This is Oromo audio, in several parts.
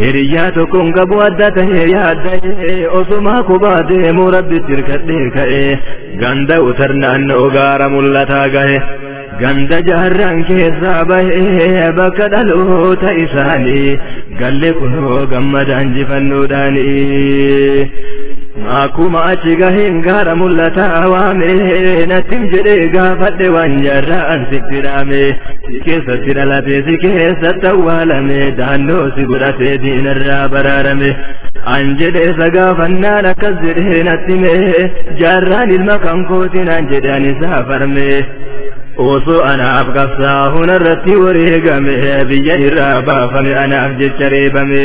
Hiriyaa tokkoon qabu adda ta'ee yaada'ee osumaa kubaa deemu rabbitti hirkadhee ka'ee ganda utar naannoo gaara mul'ataa gahe ganda jaarraan keessaa bahee bakka dhaloota isaanii galle kunoo gammadaan jifannoodhaanii. Akkuma achi gaheen gaara mul'ataa waamee nattim jedhee gaafadhe waan jaarraan sitti dhaamee. Satti dhalatee si keessatti awwaalame daannoo si godhatee diinarraa baraarame. An jedhee isa gaafannaan akkas jedhee natti mee jaarraan ilma kan kootiin an jedhe an isaa farme. Osoo anaaf qabsaa'uun irratti wareegame biyya irraa baafame anaaf jecha reebame.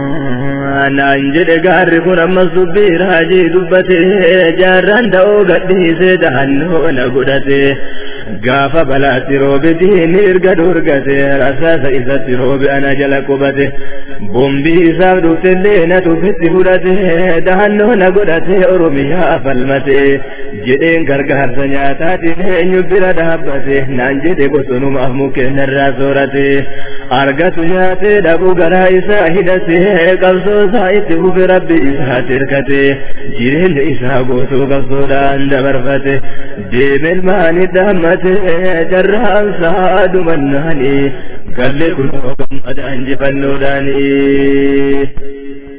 naan jedhe gaarri kun ammas dubbii raajii dubbate jaarraan da'oo gadhiise dahannoo na godhate gaafa balaatti roobe diinni erga dorgate rasaasa isatti roobe ana jala qubate bombii isaaf dhuftellee na tufitti fudhate dahannoo na godhate oromiyaa falmate jedheen gargaarsa nyaataatiin eenyu bira dhaabbate naan jedhe bosonumaaf mukkeen irraa soorate argatu nyaatee dhabuu garaa isaa hidhate qabsoo isaa itti fufe rabbi isaa tirkate jireenya isaa guutuu qabsoodhaan dabarfate deemeen maani dhaammate carraan isaa dhumannaani galle kunoo gammadaan jifannoodhaanii.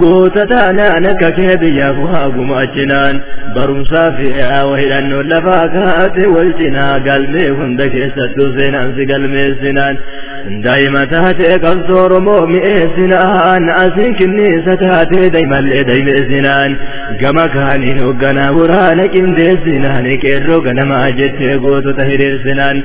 Goota taanaan akka kee biyyaaf waa gumaachinaan barumsaa fi hawa hidhannoon lafaa kaate wal cinaa galmee hunda keessattuu seenaan si galmeessinaan daa'ima taatee qabsoo Oromoo mi'eessinaan asiin kinniisa taatee daa'imallee daa'imeessinaan gama kaaniin hoogganaa waraana qindeessinaan qeerroo ganamaa jettee gootota hiriirsinaan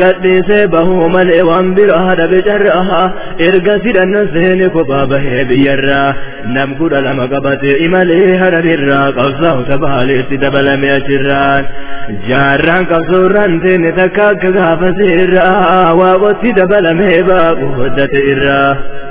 gadhiisee bahuu malee waan biraa dhabe carraa erga sidhan seeni kophaa bahee biyyarraa nam kudha lama qabatee imalee harabirraa qabsaa'u tabaaleetti dabalame achirraan jaarraan qabsoorraan seeni takka akka gaafa seerraa waaqotti dabalamee baaqu hoddate irraa.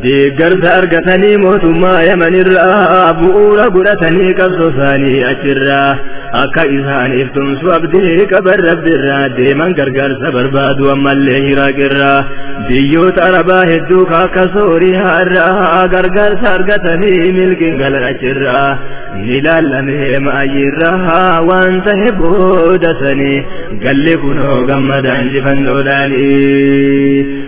deeggarsa argatanii mootummaa yamanirraa bu'uura godhatanii qabsoo isaanii achirraa akka isaaniif tumsu abdii qaban rabbirraa deeman gargaarsa barbaadu ammallee iraaqirraa biyyoota arabaa hedduu akka sooriyaarraa gargaarsa argatanii milkiin galan achirraa ni laallamee maayirraa waan ta'e booda sanii galli kunoo gammadaan jifannoodhaanii.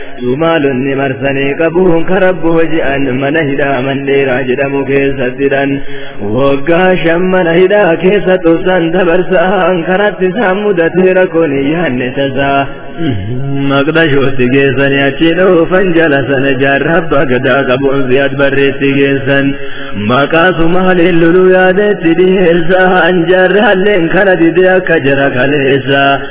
Maalonni marsanii qabuun karaa booji'an mana hidhaa mandheeraa jedhamu keessattidhan waggaa shan mana hidhaa keessa tursan dabarsaan karatti isaan mudatee rakkoon yaanne tasaa. Maqdashootti geessanii achi dhoofan jala sana jaarraa abbaa gadaa qabuun si'at barreetti geessan maqaa sumaaleen loluu yaadetti dhiyeessaan jaarraalleen kana didee akka jara kaleessa.